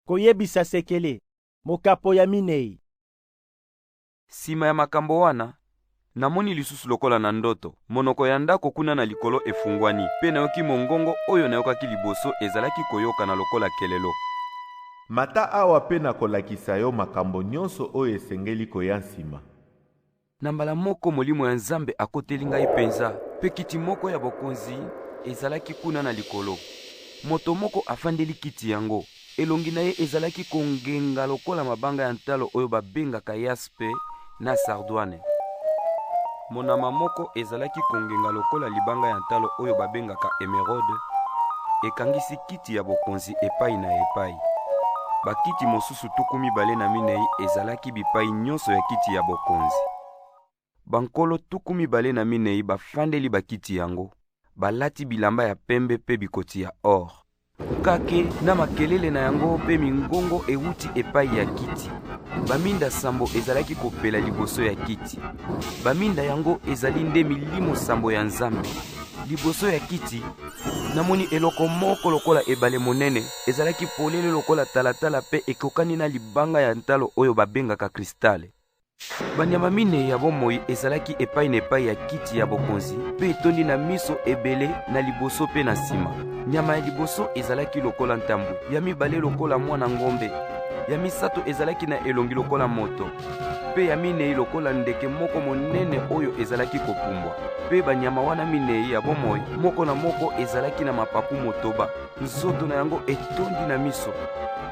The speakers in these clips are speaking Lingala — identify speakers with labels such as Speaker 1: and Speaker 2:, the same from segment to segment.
Speaker 1: Koyebisa sekele, mokapo ya minei.
Speaker 2: Sima ya makambo wana, namoni lisusu lokola na ndoto, monoko ya ndako kuna na likolo efungwani, pe nayoki mongongo oyo nayokaki liboso ezalaki koyokana lokola kelelo. Mata
Speaker 3: awa pe nakolakisa yo makambo nyonso oyo esengeli koya nsima. Na
Speaker 2: mbala moko Molimo ya Nzambe akoteli ngai mpenza, mpe kiti moko ya bokonzi ezalaki kuna na likolo. Moto moko afandeli kiti yango. Elongi na ye ezalaki kongenga lokola mabanga ya ntalo oyo babengaka yaspe na sardwane. Monama moko ezalaki kongenga lokola libanga ya ntalo oyo babengaka emerode, ekangisi kiti ya bokonzi epai na epai. Bakiti mosusu Yesu tuku mibale na minei ezalaki bipai nyonso ya kiti ya bokonzi. Bankolo tuku mibale na minei bafandeli bakiti yango, balati bilamba ya pembe mpe bikoti ya or. Kake na makelele na yango mpe mingongo ewuti epai ya kiti. Baminda sambo ezalaki kopela liboso ya kiti. Baminda yango ezali nde milimo sambo ya Nzambe. Liboso ya kiti, namoni eloko moko lokola ebale monene ezalaki polele lokola talatala mpe ekokani na libanga ya ntalo oyo babengaka kristale. Banyama minei ya bomoi ezalaki epai na epai ya kiti ya bokonzi mpe etondi na miso ebele na liboso mpe na nsima. Nyama ya liboso ezalaki lokola ntambwe, ya mibale lokola mwana ngombe, ya misato ezalaki na elongi lokola moto, mpe ya minei lokola ndeke moko monene oyo ezalaki kopumbwa. Mpe banyama wana minei ya bomoi, moko na moko ezalaki na mapapu motoba. nzoto na yango etondi na miso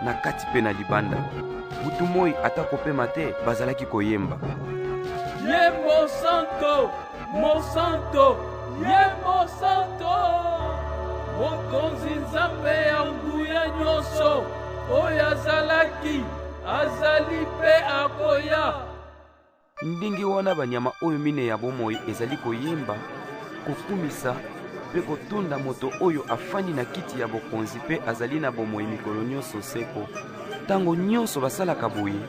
Speaker 2: na kati mpe na libanda butu moi ata kopema te bazalaki koyemba ye
Speaker 4: mosanto mosanto ye mosanto mokonzi nzambe ya nguya nyonso oyo azalaki azali mpe akoya
Speaker 2: Ndenge wana banyama oyo mine ya bomoi ezali koyemba, kokumisa mpe kotonda moto oyo afandi na kiti ya bokonzi mpe azali na bomoi mikolo nyonso seko. Ntango nyonso basalaka boye,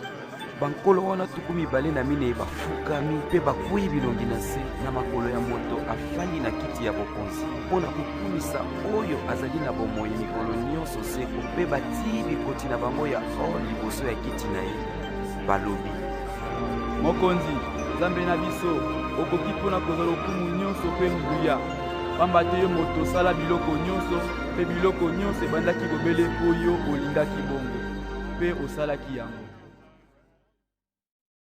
Speaker 2: bankolo wana tuku mibale na minei bafukami mpe bakwei bilongi na se na makolo ya moto afandi na kiti ya bokonzi mpo na kokumisa oyo azali na bomoi mikolo nyonso seko mpe batii bikoti na bango ya or liboso ya kiti na ye. balobi.
Speaker 5: Mokonzi, Nzambe na biso, okoki mpo na kozwa lokumu nyonso mpe nguya, mpamba te yo moto osala biloko nyonso, mpe biloko nyonso ebandaki bobele mpo yo olingaki bongo, mpe osalaki yango.